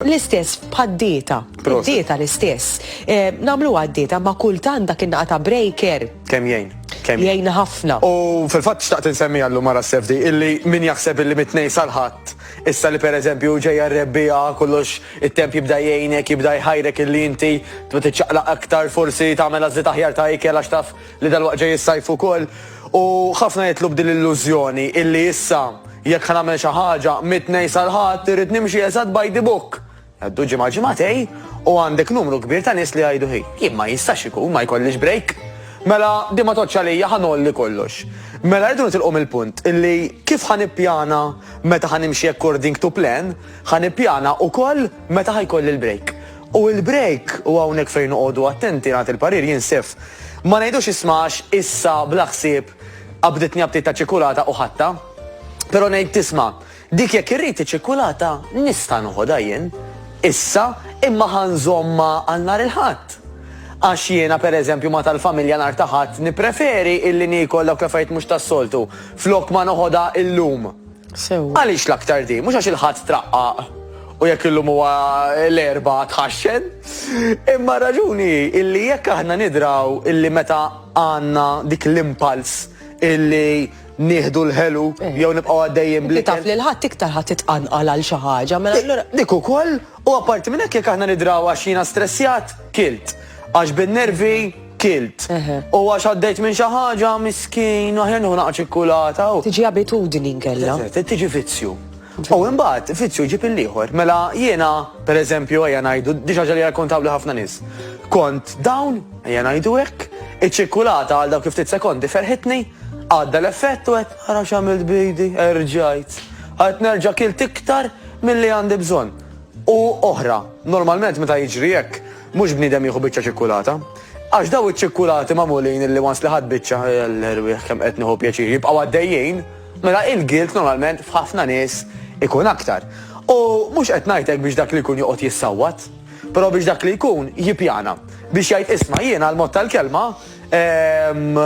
L-istess bħad-dieta. Dieta l-istess. Eh, namlu għad-dieta ma kultan dak in ta' breaker. Kem jgħin. Kem jgħin ħafna. U fil-fatt xtaqt insemmi għallu mara s-sefdi illi min jaħseb illi mitnej salħat. Issa li per eżempju ġeja rebbija kollox it-temp jibda jgħinek, jibda jħajrek illi inti tbet iċċaqlaq aktar forsi tagħmel għażli taħjar ta' ikel għax taf li dalwaqt ġej is-sajf ukoll u ħafna jidħlu b'din l-illużjoni illi issa jekk ħa nagħmel xi ħaġa mit-Tnejn sal-Ħadd irrid nimxi eżatt by the book. Għaddu ġimgħa ġimgħatej u għandek numru kbir ta' nies li jgħidu hi, jien ma jistax ikun ma jkollix break. Mela din ma tgħoddx għalija ħa ngħolli kollox. Mela rridu nitilqu mill-punt illi kif ħa nippjana meta ħa nimxi according to plan, ħa nippjana ukoll meta ħa jkolli l-break. U il-break, u hawnhekk fejn noqogħdu attenti, nagħti l-parir jien Sif, ma ngħidux isma' għax issa bla ħsieb qabditni aptit ta' ċikkulata u ħadtha. Però ngħid tisma' dik jekk irrid iċ-ċikkulata nista' noħodha jien issa imma ħa nżommha għal nhar il-Ħadd. Għax jiena pereżempju ma' tal-familja nhar ta' Ħadd nippreferi illi niekol dawk l-affarijiet mhux tas-soltu flok ma noħodha illum. sewwa. Għaliex l-aktar din? Mhux għax il-Ħadd traqqaq u jekk illum huwa l-Erbgħa tħaxxen, imma r-raġuni hi illi jekk aħna nidraw illi meta għandna dik l-impulse illi nieħdu l-ħelu eh. jew nibqgħu għaddejjin bli. Taf li l-ħadd iktar ħadd titqanqal għal xi ħaġa mela allura. Dik ukoll u apparti minn hekk jekk aħna nidraw għax jiena stressjat, kilt għax bin-nervi kilt. U għax għaddejt minn xi ħaġa miskin, aħjar nieħu naqa' ċikkulata. Tiġi abitudni nkella. Tiġi vizzju. U imbagħad vizzju ġib il-ieħor. Mela jiena, pereżempju, ejja ngħidu, diġà ġali rakkontawli ħafna nies. Kont dawn, ejja ngħidu hekk, iċ-ċikkulata għal dawk ftit sekondi ferħitni, għadda l-effett u qed ara x'għamilt bidi, erġajt. Għad nerġa' kilt iktar milli għandi bżonn. U oħra, normalment meta jiġri hekk, Mhux bniedem jieħu biċċa ċikkulata. Għax dawn iċ-ċikkulati magħmulin illi once li ħadt biċċa, l-erwieħ kemm qed nieħu pjaċir, jibqgħu għaddejjin, mela il-guilt normalment f'ħafna nies ikun aktar. U mhux qed ngħid hekk biex dak li jkun joqgħod jissawwat, però biex dak li jkun jippjana. Biex jgħid isma' jiena l-mod tal-kelma ehm,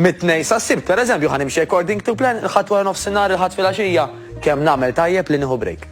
mit-tnej sas-sibt, pereżempju, ħa nimxi according to plan, il-ħadd wara nofsinhar, il-ħadd filgħaxija, kemm nagħmel tajjeb li nieħu break.